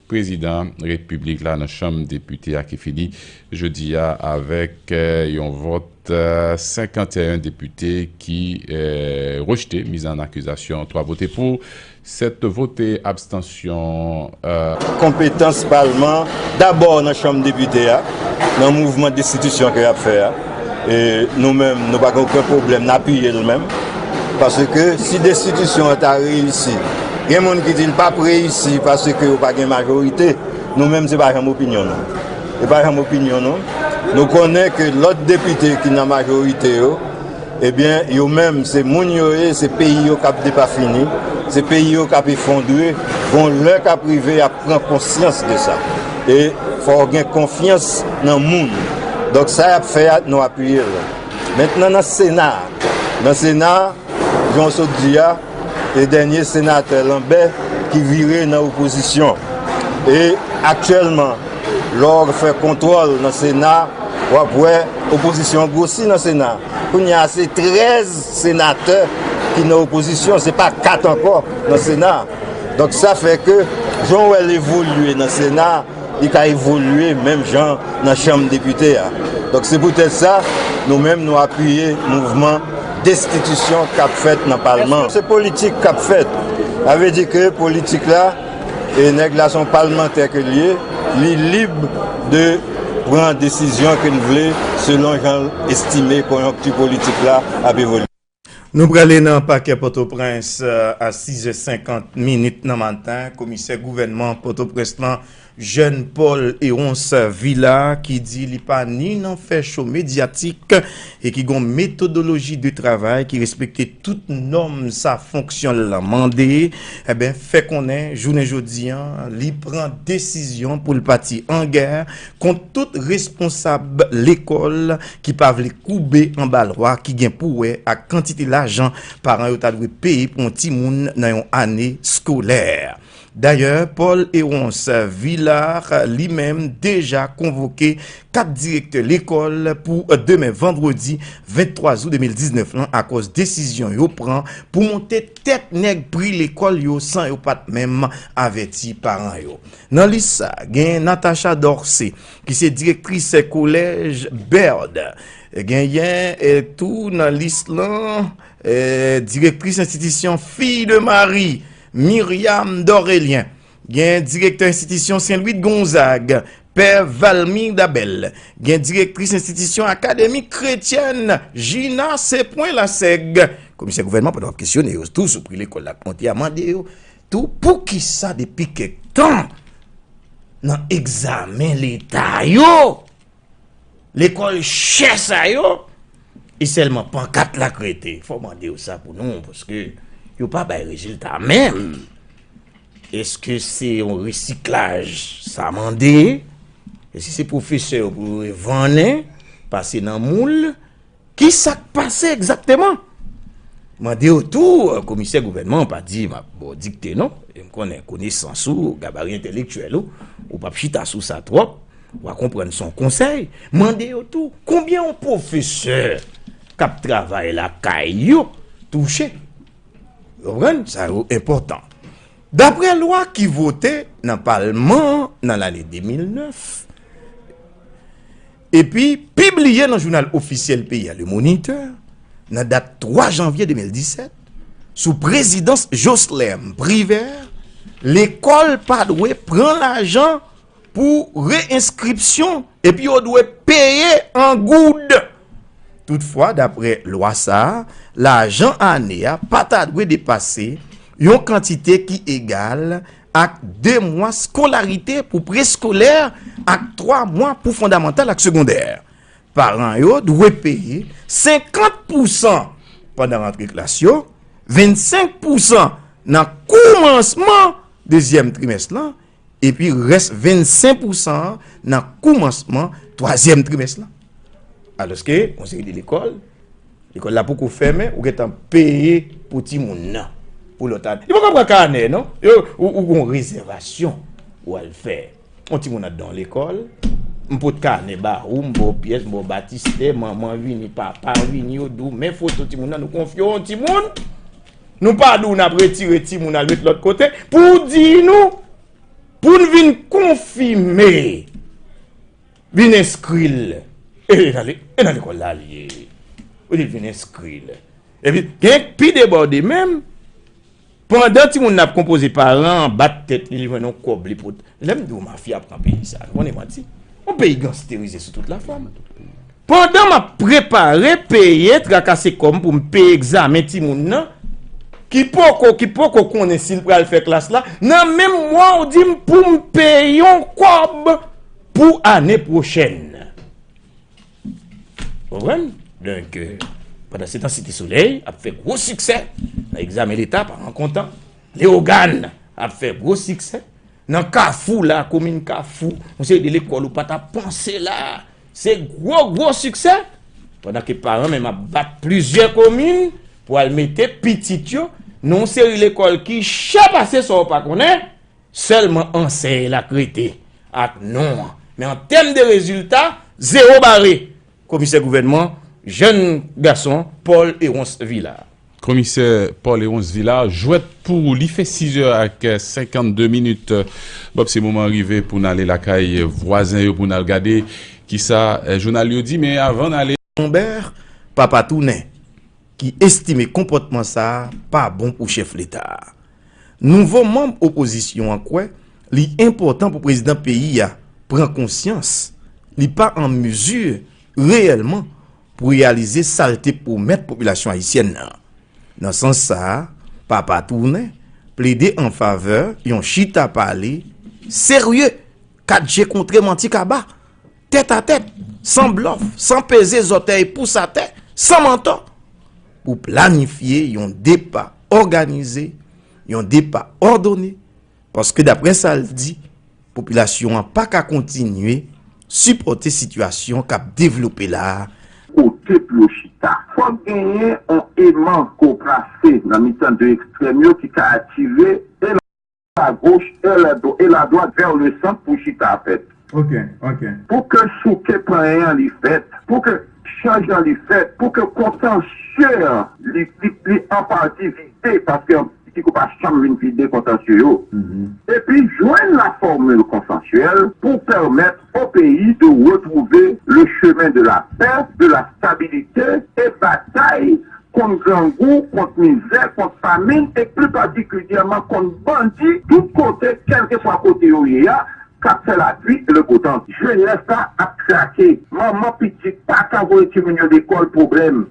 Prezidan Repiblik la nan Chanm Depite a ki fini jodi a avèk yon vòt 51 depite ki rejte miz an akizasyon, 3 vote pou, 7 vote abstansyon. Konpetans palman dabò nan Chanm Depite a nan mouvman destitisyon ke yap fè a. E nou menm nou pa gen oken pwoblèm n apiye l menm. Paske si destitisyon an ta reyisi, gen moun ki di l pa p reyisi paske yo pa gen majorite, nou menm se pa janm opinyon nou. Se pa janm opinyon nou. Nou konnen ke lòt depite ki nan majorite yo, ebyen yo menm se moun yo ye, se peyi yo k ap depafini, se peyi yo k ap efondre, gon lè k ap rive y ap pran konsyans de sa. E fò w gen konfyans nan moun. Donk sa y ap fè a, nou apiye l. Mentnan nan Sena a. Nan Sena a, jan w sot di a, e dènye senatè Lanbè ki vire nan opozisyon. E aktyèlman, lè w fè kontwòl nan Sena, w ap wè opozisyon an gwosi nan Sena a. Kounye a se 13 senatè ki nan opozisyon, se pa 4 ankò nan Sena a. Donk sa fè ke jan w wè l evolye nan Sena a, li ka evolye menm jan nan Chanm Depite a. Donk se poutèt sa, nou menm nou apiye mouvman destitisyon k ap fèt nan Palman. Se politik k ap fèt. Sa vle di ke politik la, e nèg la se yon palmantè ke l ye, li lib de pran desizyon ke l vle selon jan l estime konjonkti politik la ap evolye. Nou prale nan pakè Pòtoprens a 6 zè 50 minit nan maten, komisè gouvènman Pòtoprens lan Jèn Pòl Erons Vila ki di li pa ni nan fè cho medyatik e ki gon metodoloji de travay ki respekte tout nòm sa fonksyon l lan mande fè konnen jounen jodi li pran desizyon pou l pati an gè Kont tout responsab lekòl ki pa vle koube anba lwa ki gen pou wè ak kantite lajan paran yo ta dwe peye pou yon timoun nan yon ane skolè. Dayè, Paul Héronce Villard li menm deja konvoke 4 direktè lekòl pou demen vandredi 23 zou 2019 lan akòz desizyon yo pran pou monte tèt nèg pri lekòl yo san yo pat menm avèti paran yo. Nan lis sa, gen Natacha Dorcé, ki se direktris kolèj Baird. Genyen tou nan lis lan, direktris enstitisyon Filles de Marie, Myriam Dorélien. Gen direktè enstitisyon Saint Louis de Gonzague, pè Valmir Dabel. Gen direktris enstitisyon Akademi kretyèn Gina Sepwen Lassègue. Komisè gouvènman pandan wap kesyone yo tou sou pri lekòl la ap monte a mande yo Tou poukisa depi kèk tan nan egzamen leta yo, lekòl chè sa yo, e sèlman pankat la k rete? Fò w mande yo sa pou nou, paske yo pa bay rezilta menm. Eske se yon resiklaj sa mande? Eske se pwofesè yo pou yo revannen, pase nan moul? Ki sa k pase egzakteman? Mande yo tou, komisè gouvènman an pa di m ap ba w dikte non, e m konnen konesans ou, gabari entelektyèl ou, ou pa p chita sou sa twòp, wa konprann s on konsèy, mande yo tou, konbyen yon pwofesè k ap travay lakay yo touche? Ou konprann? Sa yo enpòtan. Daprè lwa ki vote nan palman an nan lane 2009, epi pibliye nan jounal ofisyèl peyi a, Le Moniteur, nan dat 3 janvye 2017, sou prezidans Jocelerme Privert, lekòl pa dwe pran lajan pou re-enskripsyon epi yo dwe peye an goud. Toutfwa, dapre lwa sa a, lajan ane a pa ta dwe depase yon kantite ki egal ak 2 mwa skolarite pou preskolè ak 3 mwa pou fondamantal ak segondè. Paran yo dwe peye 50 pousan pandan rantre klas yo, 25 pousan nan koumansman dezyèm trimès lan, epi rès 25 pousan an nan koumansman twazyèm trimès lan. Alòske, yon seri de lekòl, lekòl la poko fèmen, ou gentan peye pou timoun nan, pou lòt ane. Yo poko pran kanè non, ou gon rezèvasyon ou al fè. Yon timoun ap dan lekòl, m pot kanè ba ou, m ba w pyès, m ba w batistè, manman vini, papa vini, yo di w men foto timoun nan, nou konfye w yon timoun, nou pa di w n ap retire timoun al met lòt kote, pou w di nou, pou n vin konfime. Vin enskri l. E tande, e nan lekòl la l ye. Ou di l vin enskri l. Epi, gen k pi debòde menm, pandan timoun nan ap konpoze, paran an bat tèt li, li jwenn yon kòb li pot. Lè m di w mafya pran peyi sa, nou konnen m manti? Yon peyi gansterize sou tout lafòm. Pandan m ap prepare, peye, trakase kò m pou m peye egzamen timoun nan, ki poko, ki poko konnen si l pral fè klas la, nan menm mwa w di m pou m peye yon kòb! Pou ane pwochèn. Konprann? Donk, pandan se tan Site Solèy ap fè gwo siksè nan egzamen leta, paran kontan, Leyogàn ap fè gwo siksè, nan Kafou la, komin Kafou, yon seri de lekòl ou pa ta panse la, se gwo gwo siksè, pandan ke paran menm ap bat plizyè komin pou al mete pitit yo nan yon seri lekòl ki chè pase sa ou pa konnen. Sèlman ansèy la k rete ak non an. Men an tèm de rezilta, zewo bare! Komisè gouvènman, jèn gason Paul Erons Villard. Komisè Paul Erons Villard, jwèt pou ou li fè 6 è ak 52 minit. Bòb se moman rive pou n ale lakay vwazen yo pou n al gade kisa jounal yo di men avan n ale. Humbert Papa Tounen ki estime konpòtman sa a pa bon pou chèf leta a. Nouvo manm opozisyon an kwè li enpòtan pou prezidan peyi a pran konsyans li pa an mezi reyèlman pou reyalize sa l te pwomèt popilasyon ayisyèn nan. Nan sans sa a, Papa Tounen plede an favè yon chita pale serye 4 je kontre manti kaba. Tèt a tèt, san blòf, san peze zòtèy pous atè, san mantò, pou planifye yon depa òganize, yon depa òdone, paske daprè sa l di, popilasyon an pa ka kontinye sipòte sitiyasyon k ap devlope la a, Kote pou yo chita? Fòk genyen yon eman ko plase nan mitan 2 ekstrèm yo ki ka atire 1. la goch è la dwat e la dwat vè le sant pou chita a fèt. Ok ok. Pou ke souke panyen an li fèt, pou ke chanj lan li fèt, pou ke kontansye an li li an pati vide, paske anpil psikou pa janm vin vide kontansye yo, epi jwenn la fòmil konsansyèl pou pèmèt o peyi de retwouve le chemen de la pè, de la stabilite e batay kont grangou, kont mizè, kont famin e pli patikilyèman kont bandi tout kote kèlkeswa kote yo ye a k ap fè lapli e le beau temps. Jenès la ap krake, manman pitit pa ka voye timoun yo lekòl pwoblèm,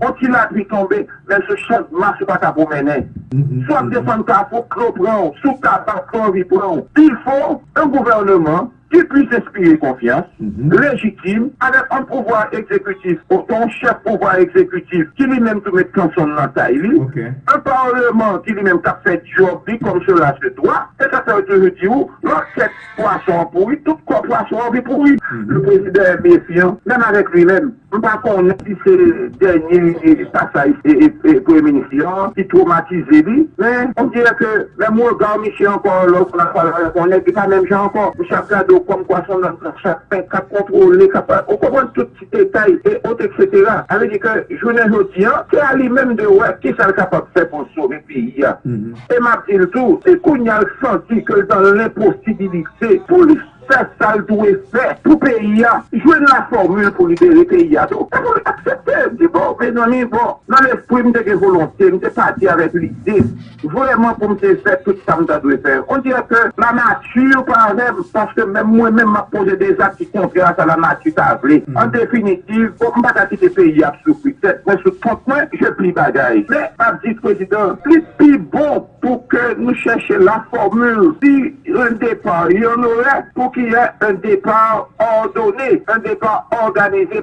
on ti lapli tonbe menm sou chandmas ou pa ka pwomennen, si w ap desann kafou dlo pran w, si w tabak fè anvi pran w, pifò nan gouvèneman ki plis enspire konfyans, lejitim, avèk on pouvwa egzekitif oswa on chèf pouvwa egzekitif ki li menm tou met kanson l nan tay li, on parleman ki li menm k ap fè dyòb li kòm sela se dwa. Se sa k fè yo toujou di ou, lò tèt pwason an pouri, tout kò pwason an vin pouri. Yon prezidan enmefyan, menm avèk li menm. M pa konnen si se dènye pasaj premye minis yo an ki twomatize li, men on dirè ke menm rega misye ankò lè w konn ap pale avèk on nèg li pa menm jan ankò. Misye ap gade w kòm kwa s on nonm k ap chapen, k ap kontwole, k ap, ou konprann, tout ti detay e ot eksetera. Sa vle di ke jounen jodi an, se a li menm de wè kisa l kapab fè pou l sove peyi a. E m ap di l tou, si kounye a l santi ke l dan lenposibilite pou li. Fè sa l dwe fè pou peyi a. Jwenn la fòmil pou libere peyi a tou. E pou l aksepte, di bon, mezanmi, bon, nan lespri m te gen volonte, m te pati avèk lide, vrèman pou m te fè tout sa m ta dwe fè. On dirè ke lanati pa avè m, paske menm mwen menm m ap poze de zak ki kontrè a sa lanati ta vle. An definitiv, bon, m pa ka kite peyi a ap soufri. Tèt mwen sou kont mwen, je pli bagay. Men, m ap di prezidan, li pi bon. Pou ke nou chèche la fòmil si un départ yon orè pou ki yè un départ ordonné, un départ organisé.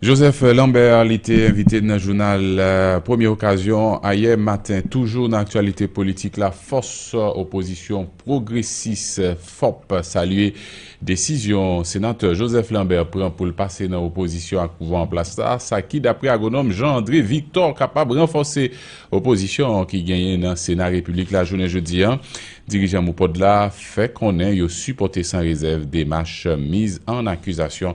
Joseph Lambert li te envite nan jounal Premye Okazyon ayè maten. Toujou nan aktyalite politik la, fòs opozisyon pwogresis, fop, salye. Desizyon Senatè Joseph Lambert pran pou l pase nan opozisyon ak pouvwa an plas la, sa ki daprè agwonòm Jean André Victor kapab ranfòse opozisyon an ki genyen nan Sena Repiblik la jounen jodi an. Dirijan MOPOD la fè konnen yo sipòte san rezèv demach miz an akizasyon